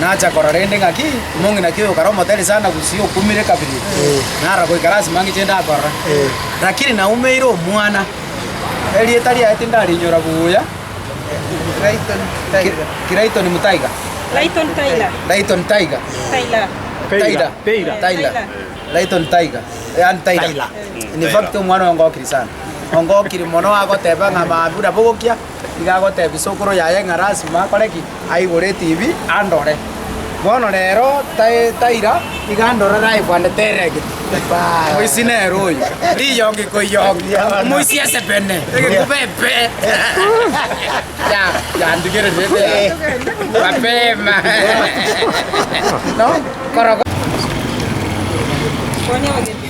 Nacha korora rende ng'aki omong'ina ki oyo okare omotere sana gusii okumire kabere, nara goikara ase mang'ina echende akorora. Rakini naumeire omwana, erieta riaye tindarinyora buya, Clayton Mutaiga, Clayton Taylor, Clayton Taiga, Taylor, Taylor, Taylor, Taylor, Clayton Taiga, yaani Taylor. In fact omwana oyo ongokiri sana, ongokiri mono agoteba ng'a mambura bogokia, Nigo agotebia isokoro yaye ng'a lasima akore ki? Aigore etibi andore. Bono rero tai- taira iga andorere aye bwane teregete. Moisi nere oyo. Riyongi koiyongi. Moisi esebene. Egekuba epe. Ya, yandigerete ebe. Mapema. No, koro